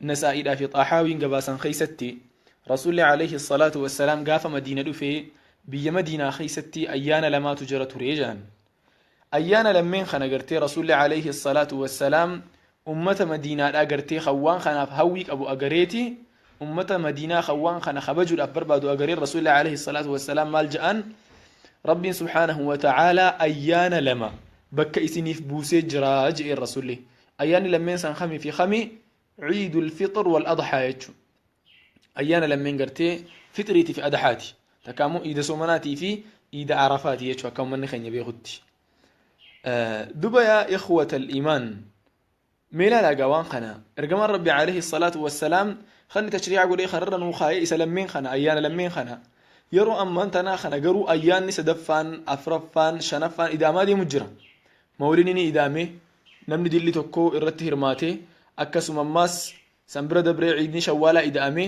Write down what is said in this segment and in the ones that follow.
Nasaa'iidhaa fi Xaahaawiin gabaasan keessatti Rasuulli alayhi salaatu wassalaam gaafa Madiina dhufe biyya Madiinaa keessatti ayyaana lamaatu jira ture jedhan. Ayyaana lammeen kana gartee Rasuulli alayhi salaatu wassalaam ummata Madiinaadhaa gartee kan waan kanaaf hawwii qabu agareeti ummata Madiinaa kan waan kana kabajuudhaaf barbaadu agareen Rasuulli alayhi salaatu wassalaam maal jedhan Rabbiin subhaanahu wa ta'aalaa ayyaana lama bakka isiniif buusee jira jedheen Rasuulli. Ayyaanni lammeen san kami fi kami ciidul fixr wal adhaa jechu. Ayyaana lammeen gartee fixriiti fi adhaati. Takka ammoo iida soomanaatii fi iida arafaati jechu akka ummanni keenya beekutti. Duba yaa ikhwatal imaan mee ilaalaa gaa waan kana ergamaan rabbi alayhi salaatu wassalaam kan inni tashriica godhee kanarra nuu kaayee isa lammeen kana ayyaana lammeen kana yeroo ammaan tanaa kana garuu ayyaanni sadaffaan afraffaan shanaffaan ida'amaa deemu jira Mawlidni ni ida'ame, namni dilli tokko irratti hirmaate, akkasuma ammaas san bira dabree ciidni shawwaalaa ida'ame,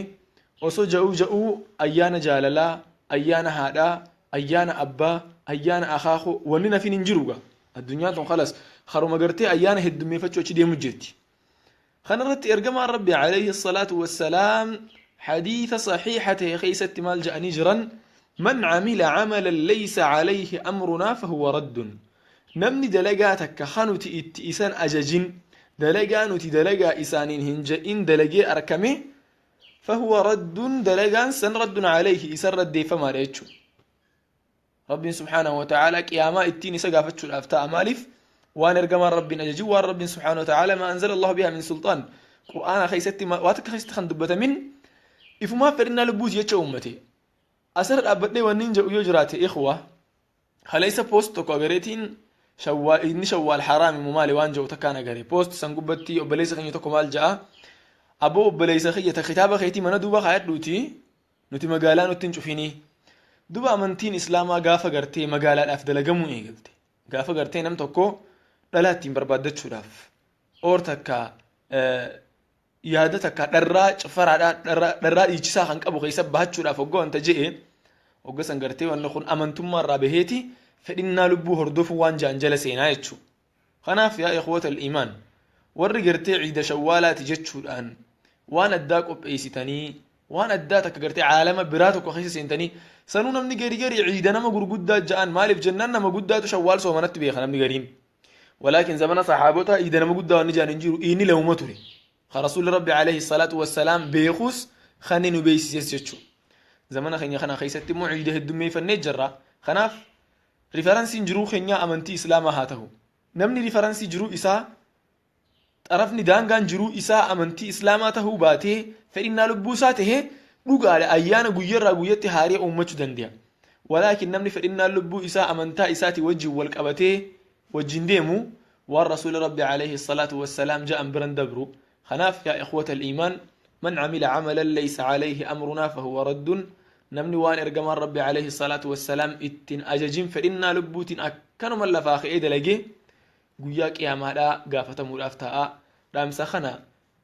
osoo ja'uu ja'uu ayyaana jaalalaa, ayyaana haadhaa, ayyaana abbaa, ayyaana akaako wanni nafin hin jiru gaa. Addunyaan tun khalas kharuma gartee ayyaana heddummeefachuu achi deemu jirti. Kana irratti ergamaan Rabbi alayhi salaatu wassalaam hadiisa sahiiha ta'e keessatti maal jedhanii jiran man camila camalan laysa calayhi amrunaa fahuwa raddun namni dalagaa takka kan nuti itti isan ajajin dalagaa nuti dalagaa isaaniin hin jedhin dalagee arkame fahuwa raddun dalagaan san raddun calayhi isan raddeeffamaadha jechuudha. Rabbiin subhaanahu wa ta'aalaa qiyaamaa ittiin isa gaafachuudhaaf ta'a maaliif waan ergamaan Rabbiin ajajin waan Rabbiin subhaanahu wa ta'aalaa ma anzala Allahu bihaa min sulxaan Qur'aana keessatti ma- waa takka keessatti kan dubbatamin ifumaa fedhinnaa lubbuuti jecha uummate asirra dhaabbadhee wanni hin jedhu yoo jiraate ikhwa kaleessa poost tokko agareetiin shawwaal inni shawwaal haraami moo maali waan jedhu takkaan agare poost san gubbatti obboleessa keenya tokko maal ja'a aboo obboleessa kiyya ta kitaaba keetii mana duuba kaayadhuuti Nuti magaalaa nutti hin cufinii. Duba amantiin Islaamaa gaafa gartee magaalaadhaaf dalagamuu eegalte. Gaafa gartee nam tokko dhalaa ittiin barbaaddachuudhaaf oor takka yaada takka dharraa cifaraadhaa dharraa dhiichisaa kan qabu keessa bahachuudhaaf hogga wanta je'e hogga san gartee wanni kun amantummaa irraa baheeti fedhinnaa lubbuu hordofuu waan ja'an jala seenaa jechuudha. Kanaaf yaa ikhwatal iimaan warri gartee ciida shawwaalaati jechuudhaan waan addaa qopheessitanii waan addaa takka gartee caalama biraa tokko keessa seentanii sanuu namni gari gari ciida nama gurguddaa ja'an maaliif jennaan nama guddaatu shawwaal soomanatti beeka namni gariin walaakin zamana saxaabotaa ciida nama guddaa wanni ja'an hin jiru inni lewuma ture ka rasuulli rabbi alayhi salaatu wassalaam beekuus kan inni nu beeksises jechuudha zamana keenya kana keessatti immoo ciida heddummeeffannee jirra kanaaf Rifaransiin jiruu kenyaa amantii islaamaa haa tahu. Namni rifaransii jiruu isaa xarafni daangaan jiruu isaa amantii islaamaa tahuu baatee fedhinnaa lubbuu isaa tahe dhugaadha ayyaana guyyarraa guyyatti haaree uummachu dandeya. Walaakin namni fedhinnaan lubbuu isaa amantaa isaati wajjin wal qabatee wajjin deemu waan rasuuli rabbi aleyhi salaatu wassalaam ja'an biran dabru Kanaaf yaa ikhwatal iimaan man amila amalan laysa alayhi amrunaa fahuwa raddun namni waan ergamaan rabbi alayhi salaatu wassalaam ittin ajajin fedhinnaa lubbuutin akkanuman lafaa ka'ee dalage guyyaa qiyaamaadhaa gaafatamuudhaaf taa'a dhaamsa kana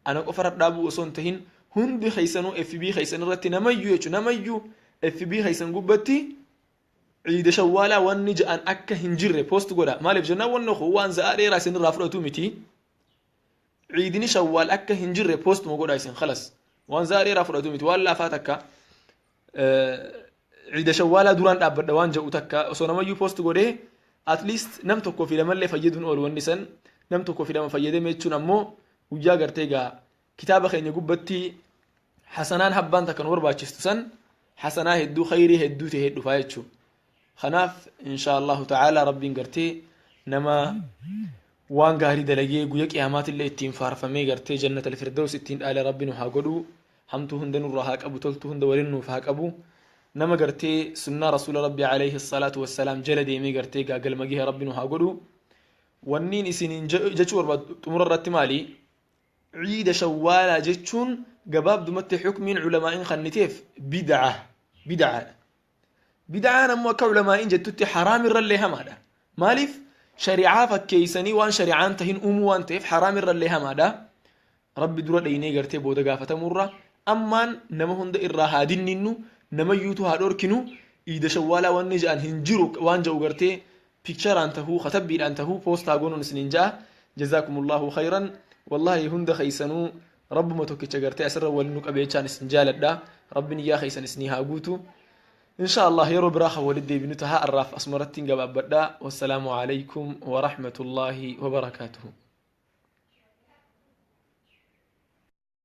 ana qofarra dhaabuu osoo hin tahin hundi keessanuu fb keessan irratti namayyu jechu namayyu fb keessan gubbatti ciida shawwaalaa wanni ja'an akka hin jirre post godha maaliif jennaan wanni kun waan za'aa dheeraa isinirraa fudhatu miti ciidini shawwaal akka hin jirre post mo godha isin khalas waan zaa dheeraa fudhatu miti waan laafaa takka ciida shawwaalaa duraan dhaabbadha waan ja'u takka osoo namayyuu post godhee at least nam tokko fi lamallee fayyaduun oolu wanni san nam tokko fi lama fayyadame jechuun ammoo guyyaa gartee egaa kitaaba keenya gubbatti hasanaan habbaan takka nu barbaachistu san hasanaa hedduu khayrii hedduu ta'e dhufaa jechuudha. Kanaaf inshaa Allaahu ta'aalaa Rabbiin gartee nama waan gaarii dalagee guyya qiyaamaatillee ittiin faarfamee gartee jannatal firdaws ittiin dhaale Rabbi nu haa godhu hamtuu hunda nurra haa qabu toltuu hunda waliin nuuf haa qabu nama gartee sunnaa rasuula Rabbi alayhi salaatu wassalaam jala deemee gartee gaagalma gahe Rabbi nu haa godhu wanniin isiniin je- jechuu barbaadu xumura irratti maali ciida shawwaalaa jechuun gabaabdumatti xukmiin culamaa'iin kanniteef bid'a bid'aadha Bid'aan ammoo akka ulamaa'iin jettutti haraam irrallee hamaadha. Maaliif shari'aa fakkeeysanii waan shari'aan tahin uumuu waan ta'eef haraam irrallee hamaadha. Rabbi dura dhaynee gartee booda gaafatamurra ammaan nama hunda irraa haa dinninnu namayyuutu haa dhorkinu iida shawwaalaa wanni ja'an hin jiru waan ja'u gartee pikcharaan tahuu katabbiidhaan tahuu poostaa goonuun isiniin ja'a jazaakumullahu khayran wallahi hunda keeysanuu Rabbuma tokkicha gartee asirra wal nu qabe jechaan isin jaaladha. Rabbi niyyaa keessan isinii haa guutu. Insha Allah yeroo biraa kan walitti deebinu taha arraaf asumarrattiin gabaabbadha. Wassalaamu alaikum wa rahmatullaahi wa barakaatuhu.